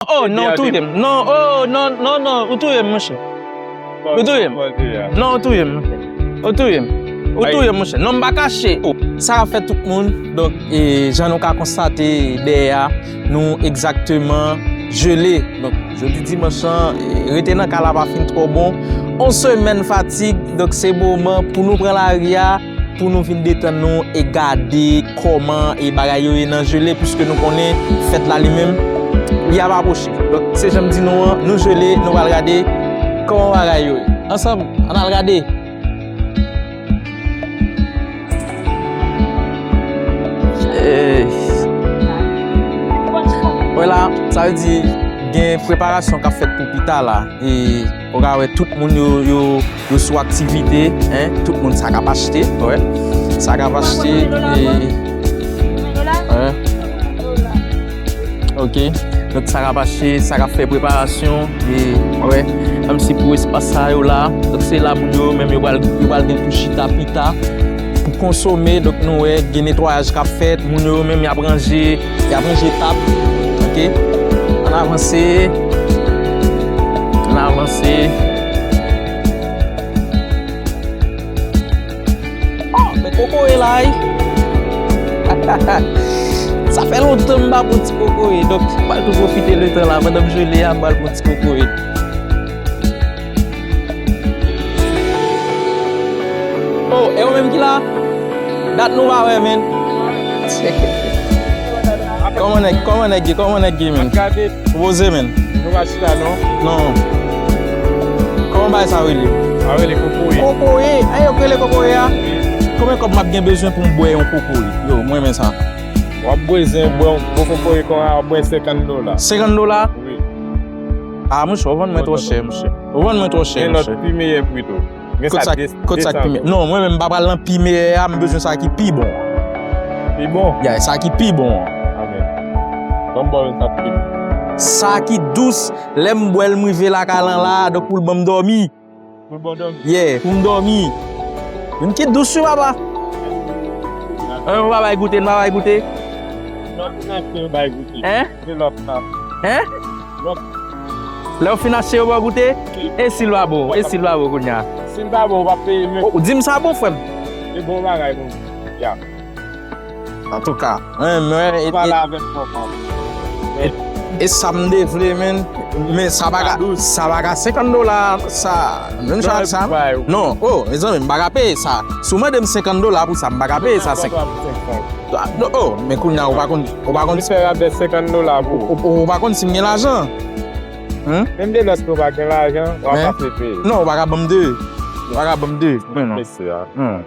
Oh non ou touye m non oh non non non ou touye m mon chè ou touye m non ou touye m mon chè ou touye m ou touye m mon chè non m pa kache ou. Sa a fè tout moun donk e jan nou ka konstate dèyè a nou egzakteman jele donk jodi dimanch lan rete nan kay la pa fin twò bon on semèn fatig donk se moman pou nou pran lari a. Pou nou vin detann nou e gade kòman e bagay yo ye nan Gelée puiske nou konnen fèt la li menm li ap apwoche. Donk se jan m di nou an, nou Gelée, nou pral gade kòman bagay yo ye. Ansanm, ann al gade! Wè la, sa vle di gen preparasyon k ap fèt pou pita la. Ou ka wè tout moun yo yo yo sou aktivite hein tout moun sa kap achte wè sa kap achte wè ok tout sa kap achte sa kap fè preparasyon e wè menm si pou espas sa yo la tout se la moun yo menm yo pral yo pral gen pou chita pita pou konsome donk nou wè gen netwayaj kap fèt moun yo menm yap ranje Yap yon jwe tab ok an avanse an avanse oh men koko e la wi hahaha sa fè lontan m pa pran ti koko e donk m pral tou pwofite le tan la pandan m jwe le a m pral pran ti koko e. Oh e ou menm ki la? Dat nou pa wè menn. Koman nèg koman nèg ye koman nèg ye menn? Ou poze menn? Nou pa chita non. Non. Koman bagay sa rele? Sa rele kokoye. Kokoye? An e ou rele kokoye a? Wi. Konbyen kòb map gen bezwen pou m bwè yon kokoye? Yo m renmen sa. Wap bwezen bwè yon gwo kokoye konwa wap bwè 50 dola. 50 dola? Wi. Ah mouche ou vann mwen tro chè mouche. Ou vann mwen tro chè mouche. Gen lot pi meyè pri tou. Gen sa 200 goud. Kot sa ki pi meyè? Non mwen menm m pa pral nan pi meyè a m bezwen sa ki pi bon. Pi bon? Yeah sa ki pi bon an. Banm baw yon sa ki pi bon. Sa ki dous, lèm bwèl m rive lakay lan la, donk poul banm dòmi. Yeah, pou m dòmi. Yon kit dous wi papa. An yon pa bay goute, yon pa bay goute. Lòt fin achte yo bay goute. Hein? Se lòt sa. Hein? Lòt. Lè ou fin achte yo ba w goute? Wi. E si l pa bon? E si l pa bon kounya? Si l pa bon ou pa peye menm. Ou di m sa bon frè m? Se bon bagay pou m. Yeah. Antouka mwen mwen e pale avek fò fò e sam de vle men men sa pa ka sa pa ka 50 dola sa menm jan ak sa non oh mezanmi m pa ka peye sa si w mande m 50 dola pou sa m pa ka peye sa oh men kounya ou pa konn ou pa konn fè rabè 50 dola pou ou ou pa konn si m gen lajan menm de lòske ou pa gen lajan w ap ap ap peye non ou pa ka ban m 2 ou pa ka ban m 2 mwen non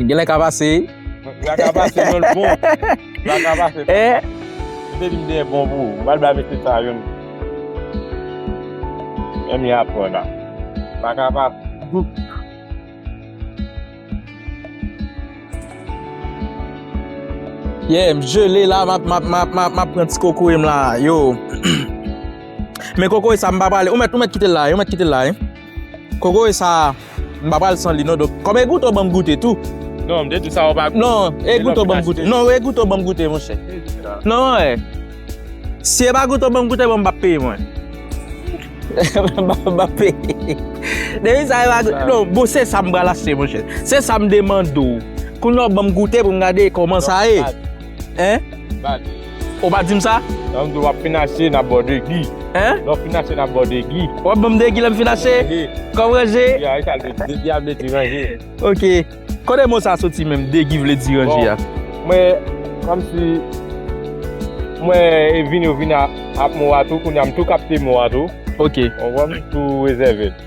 Genlè ka pase. La ka pase men l bon. La ka pase. Ou te vin dèyè bon pou ou. Ou pa t bay mesye sa yo non. Menm y ap pran la. La ka pase. Yeah, m jele la. M ap pran ti kokoye m la. Yo. Men kokoye sa m pa pale. Ou mèt kite l la. Ou mèt kite l la. Kokoye sa m pa pral san li non donk kòm e goute ou banm goute tou. Non m te di w sa ou pa goute. Non e goute ou banm goute. Non e goute ou banm goute monchè. Non e si e pa goute ou banm goute bon m pap peye mwen. Map peye. Depi sa e pa goute. Non bon se sa m pral achte monchè. Se sa m demande w. Kounye a ou banm goute pou m gade kòman sa ye. Hein? Bad. Ou pa dim sa? Lè m di w ap fin achte, n ap ba w degi. Hein? Lè w fin achte, n ap ba w degi. W ap ban m degi lè m fin achte? Ranje. Kò m ranje? Ya, e sa l vle di. Degi a vle di ranje. Ok. Kote mo sa soti menm, degi vle di ranje a? Bon, mwen, kòm si, mwen e vini ou vini ak mo a tou, kounye a m tou kapte mo a tou. Ok. Ou wè m tou rezève l.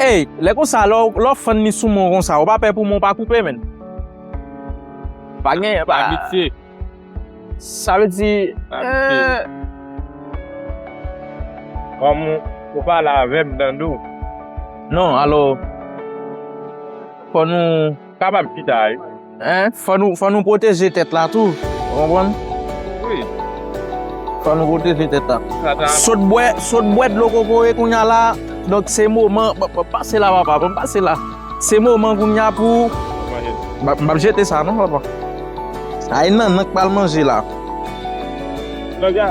Ey lè konsa lè w fann li sou menw konsa ou pa pè pou menw pa koupe menn. Pa gen pa. Abitye. Sa vle di eeh. Kòm ou pale avèm Dandou. Non alò fò nou. Kapab ki sa e? Hein fò nou fò nou pwoteje tèt la tou ou konprann? Wi. Fò nou pwoteje tèt la. Sa ta. Sot bwè sot bwè dlo kokoye kounya la donk se moman pase la papa banm pase la se moman kounya pou m pap jete sa non papa. Ay nannan k pral manje la. Lòt ya.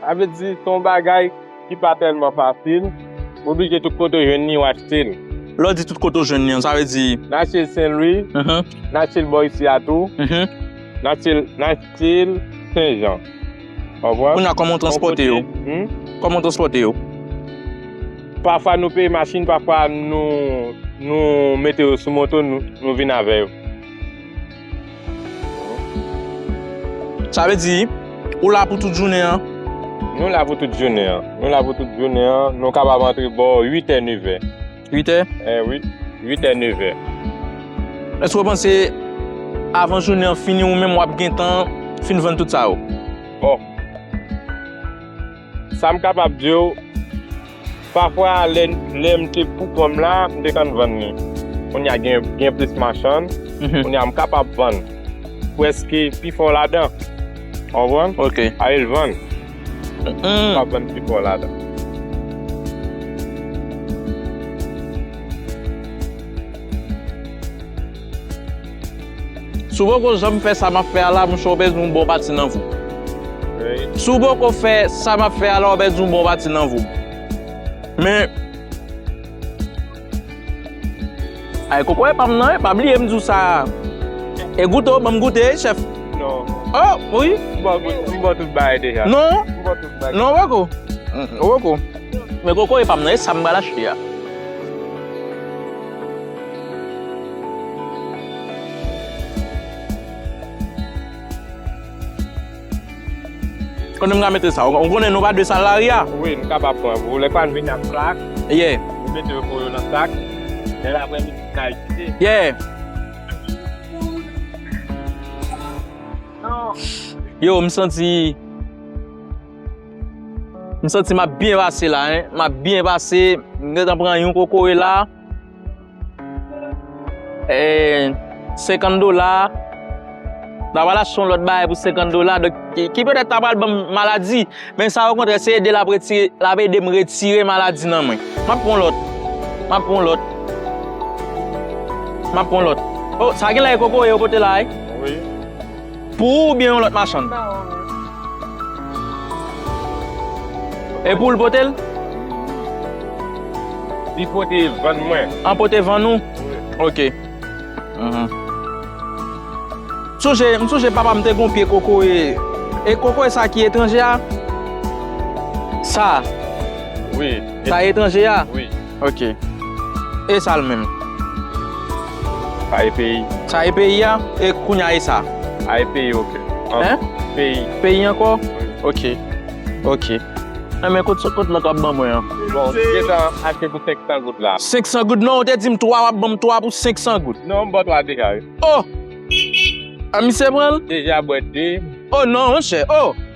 Sa vle di, se yon bagay ki pa tèlman fasil. Ou oblije tout kote ou jwenn li, ou achte li. Lè w di tout kote ou jwenn li an, sa vle di. N achte l Senlwi, n achte l bò isi a tou, n achte l Senjan. Konprann? Kounye a, kòman w transpòte yo? Kòman w transpòte yo? Pafwa nou peye machin, pafwa nou mete yo sou moto, nou vin avè yo. Sa vle di, ou la pou tout jounen an? Nou la pou tout jounen an. Nou la pou tout jounen an. Nou kapab antre bò 8 è, 9 è. 8 è? Eh wi, 8 è, 9 è. Èske ou panse avan jounen an fini ou menm wap gentan fin vann tout sa yo? Bon. Sa m kapab di w, pafwa lè m te poukò m la, m te konn vann li. Kounye a gen plis machann, kounye a m kapab vann prèske pi fò ladan. Ou konprann? Ok. Ale l vann. M kapab vann pi fò ladan. Si w poko janm fè sa m ap fè a la, monchè, w pèdi yon bon pati nan vi w. Si w poko fè sa m ap fè a la, w pèdi yon bon pati nan vi w. Men, ay koko epa m nan, epa bliye m di w sa a. E goute w, ban m goute, chèf. Non. O! Wi. M ba w goute, m ba w tout bagay deja. Non. M ba w tout bagay. Non, koko. Koko. Men koko epa m nan, e sa m pral achte a? Konnen mga mete sa. Ou konnen nou pa dwe sal lari a. Wi, nou kapab pran. Vou lè pa vin ak plak. Ye. Nou mete yo pou yo nan sak. Lè la vin nou ka itilize. Ye. Yo, m santi. M santi m ap byen pase la hein. M ap byen pase. M gentan pran yon kokoye la. Eee 50 dola. Mwen pral achte yon lòt bagay pou 50 dola. Ki petèt ta pral ban m maladi. Men sa o kontrè se ede l ap retire, l ap ede m retire maladi nan mwen. M ap pran yon lòt. M ap pran yon lòt. M ap pran yon lòt. O sa genlè e kokoye yo pote la wi. Wi. Pou ou oubyen yon lòt machann? Mba wè ou menm. E poul pote l? Li pote vann mwen. An pote vann ou? Wi. Ok. Sonje, m sonje papa m te gon pye kokoye. E kokoye sa ki etranje a? Sa a? Wi. Sa etranje a? Wi. Ok. E sa l menm? Sa e peyi. Sa e peyi a? E kounye a e sa? A e peyi ok. Hein? Peyi. Peyi ankò? Ok. Ok. Hein men kot kot lòt wap ban mwen an? Bon ou te gentan achte pou 500 goud la. 500 goud? Non ou te di m 3 wap ban m 3 pou 500 goud. Non m ba w 3 deja wi. Oh! A misye pran l? Deja bwè 2. Oh non monchè oh!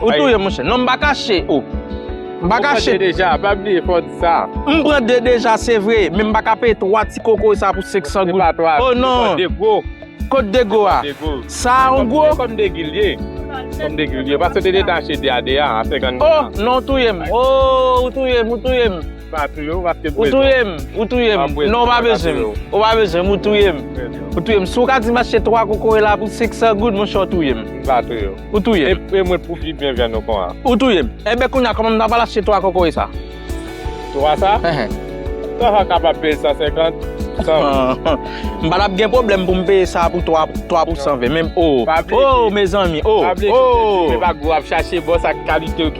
Ou touyem monchè. Non m pa kache ou. M pa kache. Ou pran 2 deja, pa bliye fò w di sa. M pran 2 deja se vre, men m pa ka peye 3 ti kokoy sa pou 500 goud. Se pa 3, se pou 2 gwo. Kot 2 gwo a? Sa a yon gwo? Se kòm 2 gil ye. Kòm 2 gil ye. Paske te detache 2 a 2 a, a 50 goud la. Oh, non ou touyem. Oh, ou touyem, ou touyem. Pa touye w, wap te pwezi. Ou touye m, ou touye m. Non ou pa bezwen m, ou pa bezwen m, ou touye m. Ou touye m. Si w ka di m achte 3 kokoye la pou 500 goud, monchè ou touye m. M pa touye w. Ou touye m. E mwen pou pi byen vyann ou kon a. Ou touye m. Enben kounye a, kòman m ta pral achte 3 kokoye sa? 3 sa? Ehe. Sa w pa kapab peye l 150? M pa tap gen pwoblèm pou m peye sa pou 3 pou 120, men oo. Oo mezanmi, oo, oo. Pa bliye se ti, se pa gwo wap chache, bon sa kalite w ki.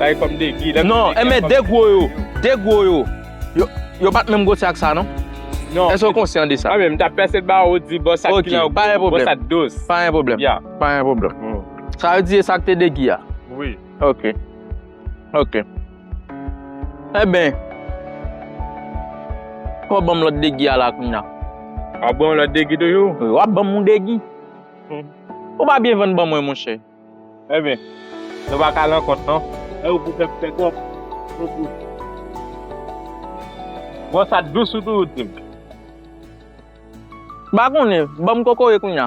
Bay kòm de gi. Non, enben de gwo yo, de gwo yo, yo pat menm gwosè ak sa non. Non. Èske ou konsyan de sa? Anben, m ta pèse ba ou di bò sa ki lan gwo, bò sa dous. Pa gen pwoblèm. Ya. Pa gen pwoblèm. Sa vle di e sa ki te de gi a? Wi. Ok. Ok. Enben, fò ou ban m lòt de gi a la kounya. Wap ban m lòt de gi toujou? Wi, wap ban m yon de gi. Ou pa byen vann ban mwen monchè. Ebyen Nou pa ka lan kont non. Ew pou fem fe kob Pou pou. Bon sa t dous ou tou ou dim. M pa konnen, banm kokoye kounya.